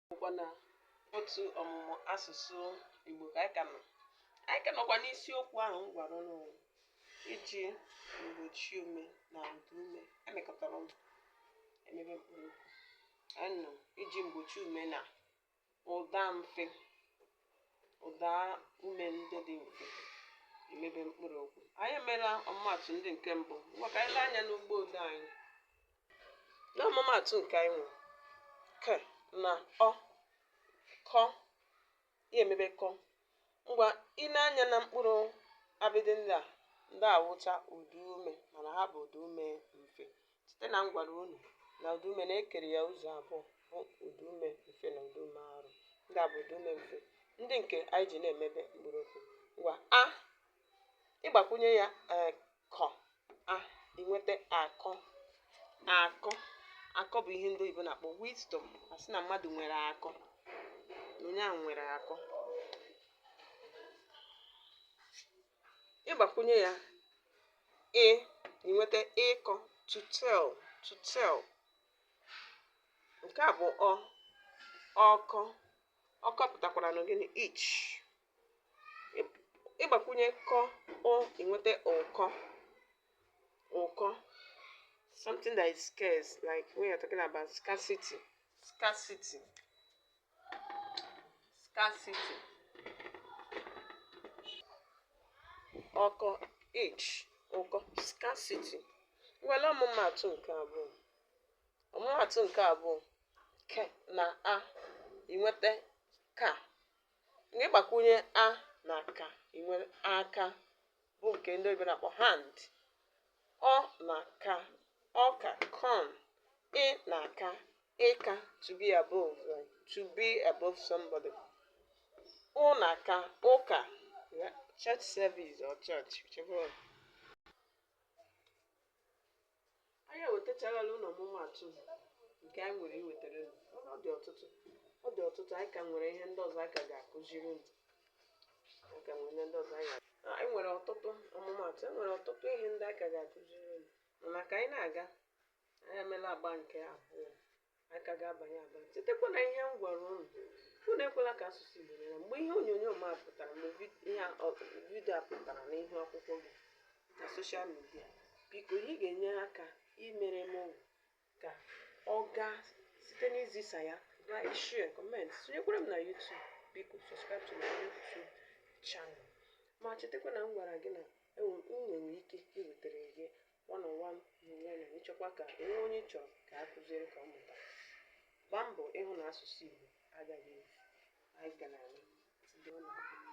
bụkwa na otu ọmụmụ asụsụ Igbo ka anyị ka nọ anyị ka nọkwa n'isiokwu ahụ m gwara unu iji mgbochi ume na ụda ume e mekọtara ọnụ emebe mkpụrụ okwu anyị nọ iji mgbochi ume na ụda mfe ụda ume ndị dị mfe emebe mkpụrụ okwu anyị emeela ọmụmatụ ndị nke mbụ ngwa ka anyị lee anya n'ugbo ụda anyị N'ọmụmaatụ nke anyị nwere, k na ọ, kọ, ya emebe kọ. Ngwa i nee anya na mkpụrụ abịdị ndị a, ndị a wụcha ụdaume mana ha bụ ụdaume mfe. Cheta na m gwara unu na ụdaume na e kere ya ụzọ abụọ bụ ụdaume mfe na ụdaume arụ. Ndị a bụ ụdaume mfe, ndị nke anyị ji na-emebe mkpụrụ okwu. Ngwa a, ị gbakwunye ya ee kọ a i nweta akọ akọ akọ bụ ihe ndị oyibo na-akpọ wisdom a sị na mmadụ nwere akọ na onye ahụ nwere akọ ị gbakwunye ya ị i nweta ịkọ to tell to tell nke a bụ ọ ọkọ ọkọ pụtakwara na gịnị itch ị gbakwunye kọ ụ i nweta ụkọ ụkọ something that is scarce like when you're talking about scarcity scarcity scarcity ọkọ itch ụkọ scarcity nwere ọmụmatụ nke abụọ ọmụmatụ nke abụọ k na a i nweta ka Mgbe ị gbakwunye a na ka, i nwere aka, bụ nke ndị oyibo na-akpọ hand. Ọ na ka, ọka, corn. Ị na ka, ịka, to be above, like to be above somebody. Ụ na ka, ụka, church service or church, whichever one. Anyị ewetacharala unu ọmụmatụ nke anyị nwere iwetara unu. Ọ dị ọtụtụ. Ọ dị ọtụtụ. Anyị ka nwere ihe ndị ọzọ anyị ka ga-akụziri unu. Anyị ka nwere ihe ndị ọzọ anyị ga Anyị nwere ọtụtụ ọmụmatụ. E nwere ọtụtụ ihe ndị anyị ka ga-akụziri unu. Mana ka anyị na-aga, anyị emeela agba nke abụọ. anyị ka ga-abanye abanye chetakwa na ihe m gwara unu unu ekwela ka asụsụ Igbo nyere mgbe ihe onyonyo m a pụtara mgbe vi- ihe a- ọ- video a pụtara n'ihu akwụkwọ gị na social media biko ihe ị ga-enye aka imere m wụ ka ọ gaa site n'izisa ya na ị share comment sonyekwara m na YouTube biko subscribe to my YouTube channel ma chetakwa na m gwara gị na enwe- m nwere ike iwetara gị One on one n'onwe na ị chọkwa ka e nwee onye ị chọrọ ka a kụziere ka ọ mụta gbaa mbọ ịhụ na asụsụ Igbo agaghị efu anyị ga na-anụ ndị ọ na-abụ